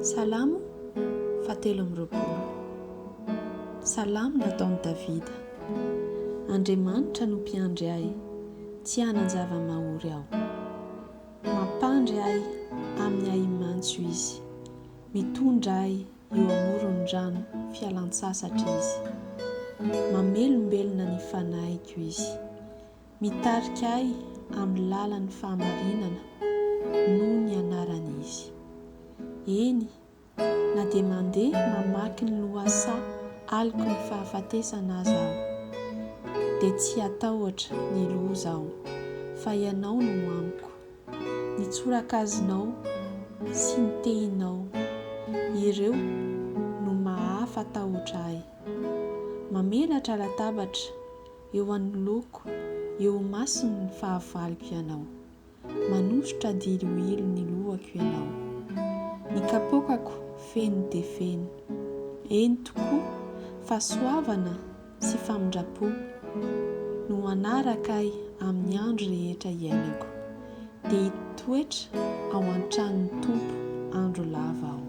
Salamo fahatelo amby roapolo. Salamo nataon'i Davida. Andriamanitra no mpiandry ahy, tsy hanan-java-mahory aho. Mampandry ahy amin'ny ahi-mantso Izy, mitondra ahy eo amoron'ny rano fialan-tsasatra Izy. Mamelombelona ny fanahiko Izy, Mitarika ahy amin'ny lalan'ny fahamarinana noho ny anarany Izy. Eny, na dia mandeha mamaky ny lohasaha aloky ny fahafatesana aza aho, dia tsy hatahotra ny loza aho, fa Ianao no amiko. Ny tsorakazinao sy ny tehinao, ireo no mahafa-tahotra ahy. Mamelatra latabatra eo anoloako eo ho masiny ny fahavaloko ianao Manosotra diloilo ny lohako ianao Ny kapoakako feno dia feno Eny tokoa fahasoavana sy famindram-po No hanaraka ahy amin'ny andro rehetra iainako Dia hitoetra ao an-tranon'ny Tompo andro lava aho.